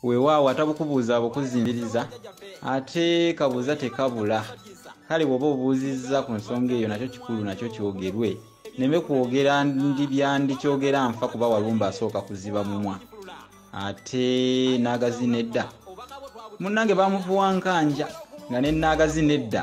weewaawo atabukubuuza abukuzimbiriza ate kabuuza tekabula kale bw'oba obuuzizza ku nsonga eyo nakyo kikulu nakyo kyogerwe neme kwogera ndi byandikyogera nfa kuba walumba asooka kuziba mumwa ate naagazina edda munnange bamuvuwankanja nga ne naagazina edda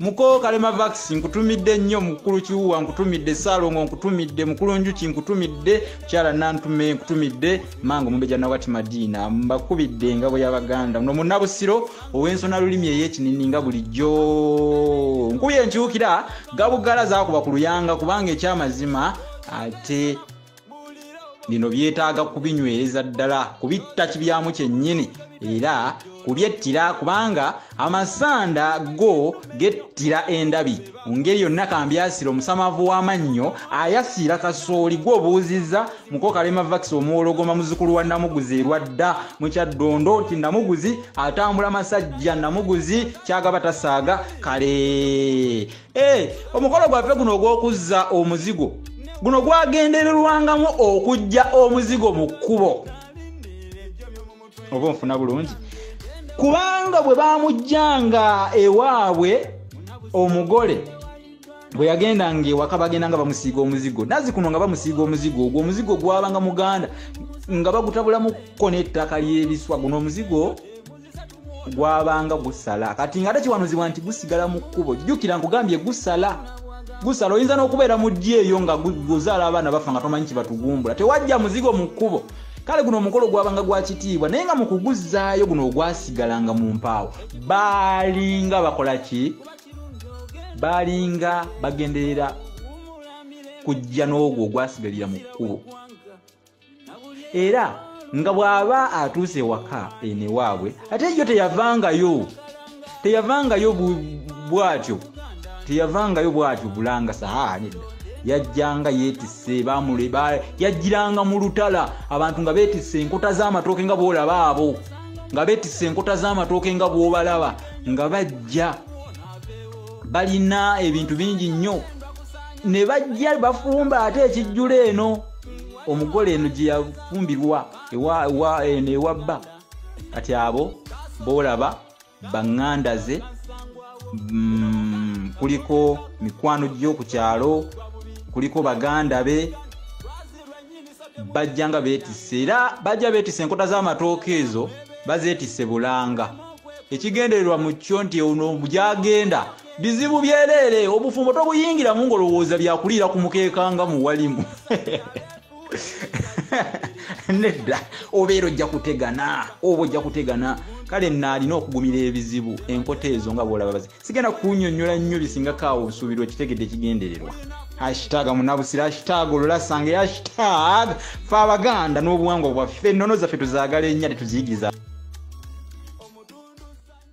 mukoo kalema vax nkutumidde nnyo mukulu kiwuwa nkutumidde saalongo nkutumidde mukulu njuki nkutumidde kyala nantume nkutumidde manga omumbeja nawati madiina mbakubidde engabo y'abaganda no munabusiro ow'ensona lulimi ey'ekinini nga bulijjo nkubye enkyukira gabugala zakuba ku luyanga kubanga ekyamazima ate bino byetaaga kubinywereza ddala kubitta kibyamu kyennyini era kubyettira kubanga amasanda go gettira endabi mu ngeri yonna kambyasira omusamavu w'amannyo ayasiira kasooli gwobuuzizza muko kalema vakisi omuwologoma muzukulu wa namuguzi erwadda mu kyaddondo nti namuguzi atambula masajja namuguzi kyagaba tasaaga kale Eh, omukolo gwaffe guno ogw'okuzza omuzigo guno gwagendererwangamu okujja omuzigo mu kkubo oba onfuna bulungi kubanga bwe bamujjanga ewaabwe omugole bwe yagendanga ewaka bagenda nga bamusiiga omuzigo nazi kuno nga bamusiiga omuzigo ogwo omuzigo gwabanga muganda nga bagutabulamuko n'ettaka ly'ebiswa guno omuzigo gwabanga gusala kati nga tekiwanuzibwa nti gusigala mu kkubo jjukira nkugambye gusala gusala oyinza n'okubeera mu ddi eyo nga guzaala abaana bafa nga tomanyi kibatugumbula tewajja muzigo mu kkubo kale guno omukolo gwabanga gwa kitiibwa naye nga mu kuguzzaayo guno ogwasigalanga mu mpaawo baalinga bakola ki baalinga bagenderera kujja n'ogwo ogwasigalira mu kkubo era nga bw'aba atuuse ewaka eno ewaabwe ate yo teyavangayo teyavangayo bwatyo teyavangayo bwatyo bulanga sahaa nedda yajjanga yeetisse bamule yajjiranga mu lutala abantu nga beetisse enkota z'amatooke nga boolaba abo nga beetisse enkota z'amatooke nga bwobalaba nga bajja balina ebintu bingi nnyo ne bajja bafumba ate ekijjula eno omugole eno gye yafumbirwa eno ewa bba kati abo boolaba baŋŋanda ze mm, kuliko mikwano gyo ku kyalo kuliko baganda be bajja nga beetisse era bajja beetisse enkota z'amatooka ezo bazeetisse bulanga ekigendererwa mu kyo nti ono gyagenda bizibu byeleere obufumbo tobuyingiramu ngolowooza byakuliira ku mukeeka nga muwalimu nedda obeera ojja kutegana oba ojja kutegana kale naalina okugumira ebizibu enkota ezo nga bwolababazi sigenda kunyonyola nnyo bisingako awo obusuubirwa ekitegedde ekigendererwa hashtag munabusira hashtag olulasanga hashtag fe abaganda n'obuwangwa bwaffe ennono zaffe tuzagala ennya tetuziyigiriza